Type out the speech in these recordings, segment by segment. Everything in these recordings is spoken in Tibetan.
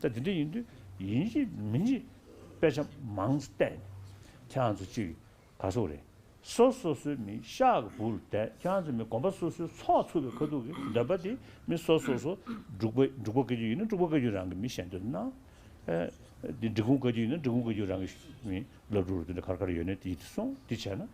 ད་དེ་འདྲ་ཡིན་དུས་ཡིན་གཅིག་མིན་གཅིག་དཔེ་ཆ་མང་བལྟས་ནས་ཁྱེད་ཚོ་གཅིག་ག་ཚོད་རེད་སོ་སོ་སོའི་མི་ཤ་གི་བུར་བསྡད་ཁྱེད་ཚོ་མི་གོམ་པ་སོ་སོའི་ཚོགས་ཚུད་པའི་ཁ་ཐུག་གི་འདོད་པ་དེ་མི་སོ་སོ་སོ་འབྲུག་པ་འབྲུག་པ་བཀའ་རྒྱུད་ཡིན་ན་འབྲུག་པ་བཀའ་རྒྱུད་རང་གི་མི་བཤད་འདོད་ན་འདི་འབྲི་གུང་བཀའ་རྒྱུད་ཡིན་ན་འབྲི་གུང་བཀའ་རྒྱུད་རང་གི་མི་ལབ་འགྲོ་རུ་འདི་འདྲ་གར་གར་ཡོད་ནས་དེ་ཡི་དེ་སོང་འདི་བྱས་ན།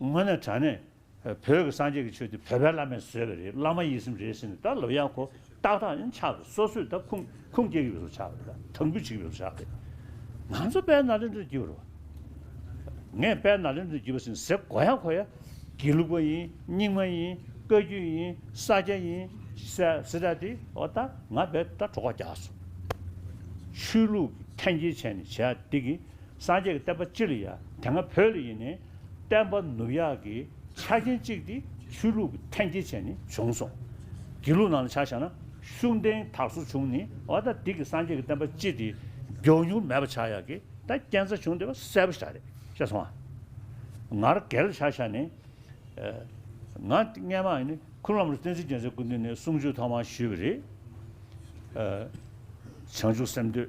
དངོས་ནས་དྲ་གནས་བོད་ཀྱི་སངས་རྒྱས་ཀྱི་ཆོས་འདི་བོད་པའི་བླ་མས་བཟོས་པ་རེད་བླ་མ་ཡིད་སེམས་རེད་ཟེར་ནས་ད་ལོ་ཡག་གོ་ཏག་ཏག་ཡང་ཆགས་པས་སོ་སོས་ད་ཁུངས་ཁུངས་སྐྱེལ་གྱི་ཡོད་ཚོར་ཆགས་པ་རེད་དང་འབུད་བྱེད་ཀྱི་ཡོད་ཚོར་ཆགས་པས་ང་ཚོ་དཔལ་ནཱ་ལེནྡྲར་བརྒྱུད་པར་བ། ངས་དཔལ་ནཱ་ལེནྡྲར་བརྒྱུད་པ་ཟེར་ནས་ཟེར་གོ་ཡ་གོ་ཡ། དགེ་ལུགས་པ་ཡིན་རྙིང་མ་ཡིན་བཀའ་བརྒྱུད་ཡིན་ས་སྐྱ་ཡིན་སི་ར་ཏི་ཨོ་ད་ང་བས་ད་གྲོགས་པ་རྒྱག་སོང། ཆོས་ལུགས་ཀྱི་འཐེན་འཁྱེར་བྱས་ནས་བྱས་ཨ་དེ་གི། སངས་རྒྱས་ཀྱི་བསྟན་པ་སྤྱི་ལ་ཡང་དེ་སྔ་བོད་ལ་ཡིན་ནས་བསྟན་པ་ནུབ་ཡག་གི་ཆ་རྐྱེན་གཅིག་དེ་ཆོས་ལུགས་ཀྱི་འཐེན་འཁྱེར་བྱས་ནས་བྱུང་སོང། དགེ་ལུགས་ནང་ལ་ཆ་བཞག་ན་ཤུགས་འདེང་དག་སོ་བྱུང་ནས་ཨོ་ད་དེ་གི་སངས་རྒྱས་ཀྱི་བསྟན་པ་སྤྱི་དེ་མགྱོགས་མྱུར་མེད་པ་ཆགས་ཡག་གི་ད་རྐྱེན་རྩ་བྱུང་དེ་བ་གསལ་པོ་ཆགས་རེད་ཤེས་སོང་ཨ། ང་ར་གལ་ལ་ཆ་བཞག་ནས་ང་སྔན་མ་ནི་ཁུ་ལམ་ར་བསྟན་འཛིན་རྒྱལ་མཚན་སྐུ་མདུན་ནས་གསུང་ཆོས་ཐོག་མར་ཞུས་པ་རེད། བྱང་ཆུབ་སེམས་འདོད།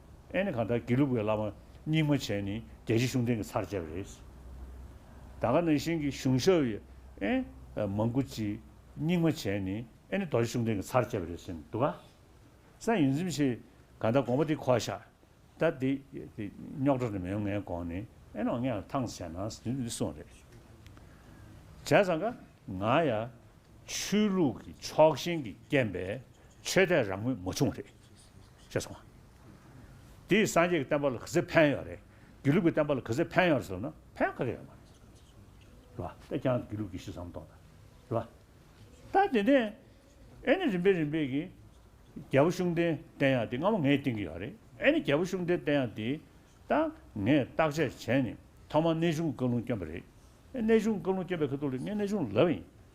ཨེ་ནི་གང་ལྟར་དགེ་ལུགས་པའི་བླ་མ་རྙིང་མ་བྱས་ནི་རྒྱལ་སྤྱི་གཞུང་འབྲེལ་གྱི་ཚར་བཅད་པ་རེད། ད་ག་ནང་བཞིན་གྱི་གཞུང་ཞབས་ཡི་ཨེ་མང་ཀུ་ཅི་རྙིང་མ་བྱས་ནི་ཨེ་ནི་རྡོ་རྗེ་གཞུང་འབྲེལ་གྱི་ཚར་བཅད་པ་རེད་ཟེར་ནི་འདུག་ག་ས་ཡིན་ཚིམ་ཆེ་ག་ད་དགོངས་པ་དེ་ཁོ་ཤ་ད་དེ་རྙོག་དྲ་རེ་མི་ཡོང་ངའི་དགོངས་ནི་ཨེ་ནོ་ངས་ཐང་ཟེར་ན་ཟེར་ནི་འདི་སོང་རེད། བྱས་ཙང་ག་ང་ཡ་ཆོས་ལུགས་ཀྱི་ཕྱོགས་ཞེན་གྱི་རྐྱེན་པས་ཆོས་དད་རང་མོས་མ་བྱུང་བ་རེད། ཅེས་གསུངས། དེའི་སངས་རྒྱས་ཀྱི་བསྟན་པ་ལ་གུས་བརྩི་ཕན་ཡོད་རེད། དགེ་ལུགས་ཀྱི་བསྟན་པ་ལ་གུས་བརྩི་ཕན་ཡོད་རེད་ཟེར་ན་ཕན་ག་གེ་ཡོད་མ་རེད། རེད་པ། ད་ཀྱང་དགེ་ལུགས་ཀྱི་གཞི་བསམ་གཏོང་དང། རེད་པ། ད་དེ་ནས་ཨེ་ནི་རིམ་པས་རིམ་པས་ཀྱིས། རྒྱལ་པོ་གཤོང་སྟེང་བསྟན་ཡང་དེ་སྔ་མོ་ངས་བསྟན་གྱི་ཡོད་རེད། ཨེ་ནི་རྒྱལ་པོ་གཤོང་སྟེང་བསྟན་ཡང་དེའི། ད་ངས་བརྟག་དཔྱད་བྱས་ནས་ཐོག་མར་གནས་གཞུང་བཀའ་ལུང་བསྐྱོན་པ་རེད། གནས་གཞུང་བཀའ་ལུང་བསྐྱོན་པའི་ཁ་ཐུག་ལ་ངས་གནས་གཞུང་ལབ་ཡིན།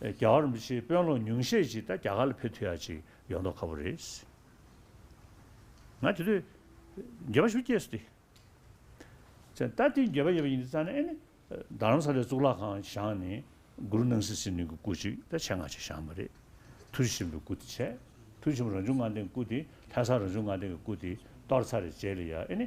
རྒྱ་གར་མི་ཆེས་དཔོན་སློབ་ཉུང་ཤས་ཅིག་ད་རྒྱ་གར་ལ་ཕེབས་ཐུ་ཡ་ཅིག་ཡོད་མདོག་ཁ་བོ་རེད། ང་དེ་དུས་འགྱེལ་བ་ཞུ་སྐྱེས་སུ་བསྟི། ད་དེ་འགྱེལ་བ་ཡེ་བ་ཡིན་དུ་ཙང་ནས་ཨེ་ནི་རྡ་རམ་ས་ལའི་གཙུག་ལག་ཁང་བཞང་ནས་གུ་རུ་སྣང་སྲིད་སྲིད་གནོན་གྱི་སྐུ་ཅིག་ད་ཆེ་ང་ཅིག་བཞང་མ་རེད། ཐུར་ཆེན་པོའི་སྐུ་དེ་ཆད་ཐུར་ཆེན་པོ་རང་བྱུང་ངང་སྟེང་གི་སྐུ་དེ་ལྷ་ས་རང་བྱུང་ངང་སྟེང་གི་སྐུ་དེ་གཏོར་ཚར་རེད་བྱས་ལ་ཡ་ཨེ་ནི།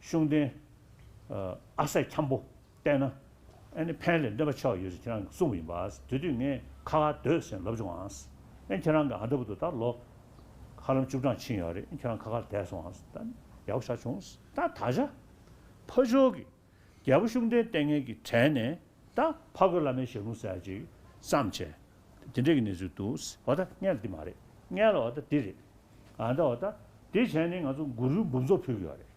ཤུགས་ལྡན། ཨ་སད་འཁྱམས་པོ། བལྟས་ན། ཨེ་ནི་ཕན་ལས་འདས་པ་ཆགས་ཡོད་ཅེས་ཁྱེད་རང་གིས་གསུངས་པ་ཡིན་པ། དེ་དུས་ངས་ཁ་ཁ་སྡོད་ཟེར་ལབ་བྱུང་ཨང། ཨེ་ཁྱེད་རང་གིས་ཨ་འདྲ་བུ་དེ་དག་ལོ། ཧ་ལམ་བཅུ་གྲངས་ཕྱིན་ཡོད་རེད་ཨེ་ཁྱེད་རང་ཁ་ཁར་བསྡད་སོང་ཨང། ད་ནི་ཡག་པོ་ཆགས་བྱུང། ད་ད་ཆ། ཕ་ཆོས་ཀྱི། རྒྱལ་པོ་ཤུགས་ལྡན་ལྟས་ངན་གྱི་གྲལ་ནས། ད་ཕ་གི་བླ་མའི་ཞལ་ལུང་གསལ་ཅིག། བསམ། ཆེ་འདི་འདྲ་གི་གནས་ཚུལ་འདུག། བ་ད་མངལ་འདི་མ་རེད། མངལ་བ་ད་འདི་རེད། ཨ་ད་བ་ད། དེ་བྱས་ནས་ང་ཚོ་གུ་རུའི་འབུམ་ཚོགས་ཕུལ་གི་ཡོད་རེད།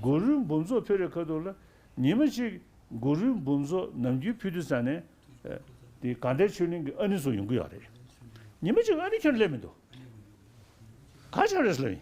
གུ་རུའི་འབུམ་ཚོགས་ཕུལ་རེ་ཁ་ཐུག་ལ། ཉིན་མ་གཅིག་གུ་རུའི་འབུམ་ཚོགས་ནམ་རྒྱུན་ཕུལ་དུས་ས་ནས། དེ་གངས་ཏལ་ཆོས་གླིང་གི་ཨ་ནི་ཚོ་ཡོང་གི་ཡོད་རེད། ཉིན་མ་གཅིག་ཨ་ནི་ཁྱོད་ལས་མི་འདུག། ག་ཆོས་རེད་ཟེར་ལ། ཡིན།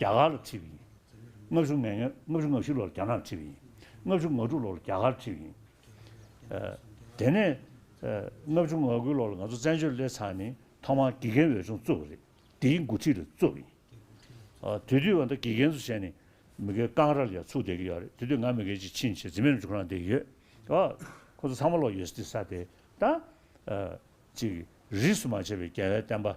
རྒྱ་གར་ལ་ཁྲིད་པ་ཡིན། ལྔ་བཅུ་ང་ཉེར་ལྔ་བཅུ་ང་བཞི་ལོར་རྒྱ་ནག་ཁྲིད་པ་ཡིན། ལྔ་བཅུ་ང་དྲུག་ལོར་རྒྱ་གར་ཁྲིད་པ་ཡིན། དེ་ནས། ལྔ་བཅུ་ང་དགུ་ལོར་ང་ཚོ་བཙན་བྱོལ་སླེབས་ཚར་ནས་ཐོག་མར་དགེ་རྒན་འོས་སྦྱོང་བཙུགས་པ་རེད། དེའི་འགོ་ཁྲིད་ལ་བཙུགས་པ་ཡིན། དེ་དུས་བ་ད་དགེ་རྒན་ཚོ་བྱས་ནས་མི་སྒེར་རྐང་ར་ལ་ཡང་ཚུགས་བསྡད་ཀྱི་ཡོད་རེད། དེ་དུས་ང་མི་སྒེར་གྱི་ཕྱིན་ཆད་འཛིན་མའི་འཇུག་རང་བསྡད་ཡོད། ཁོ་ཚོ་ཚང་མ་ལོག་ཡོད་སྲིད་ས་དེ་ད། ཅིག་རིས་སུ་མ་ཆད་པའི་རྒྱལ་བའི་བསྟན་པ།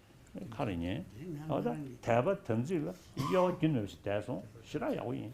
ཁ་རེ་ཉན། ཨོ་ད། དད་པ་དམ་ཚིག་ལ་གཡོ་བ་རྒྱུན་མེད་པ་ཞིག་དད་སོང་ཞེ་དྲག་ཡག་པོ་ཡིན།